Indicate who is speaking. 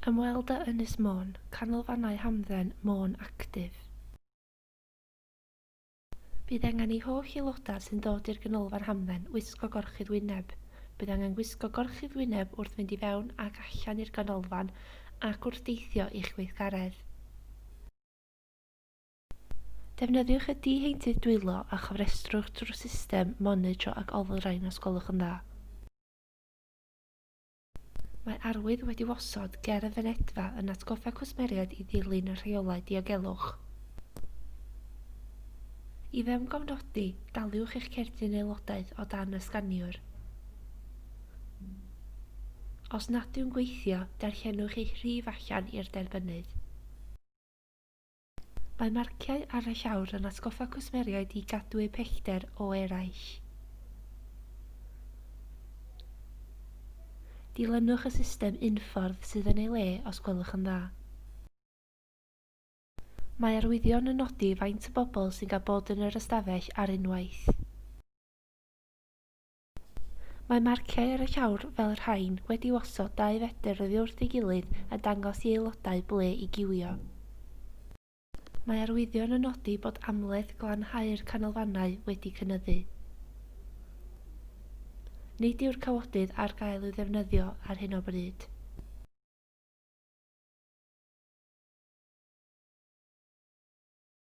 Speaker 1: Ymweld â Ynys Môn, Canolfannau Hamdden, Môn Actif. Bydd angen i holl aelodau sy'n dod i'r Ganolfan Hamdden wisgo gorchudd wyneb. Bydd angen gwisgo gorchudd wyneb wrth fynd i fewn ac allan i'r ganolfan ac wrth deithio i'ch gweithgaredd. Defnyddiwch y di-heintydd dwylo a chofrestrwch drwy system monitro ac olrhain os gwelwch yn dda. Mae arwydd wedi'w osod ger y fynedfa yn atgoffa cwsmeriaid i ddilyn y rheolau diogelwch. I fewngofnodi, daliwch eich cerdyn aelodaeth o dan y sganiwr. Os nad yw'n gweithio, darllenwch eich rhif allan i'r derbynnydd. Mae marciau ar y llawr yn atgoffa cwsmeriaid i gadw eu pellter o eraill. Dilynwch y system unffordd sydd yn ei le os gwelwch yn dda. Mae arwyddion yn nodi faint o bobl sy'n cael bod yn yr ystafell ar unwaith. Mae marciau ar y llawr fel y rhain wedi'u osod dau fedr oddi wrth ei gilydd a dangos i aelodau ble i giwio. Mae arwyddion yn nodi bod amledd glanhau'r canolfannau wedi cynyddu. Nid yw'r cawodydd ar gael i'w ddefnyddio ar hyn o bryd.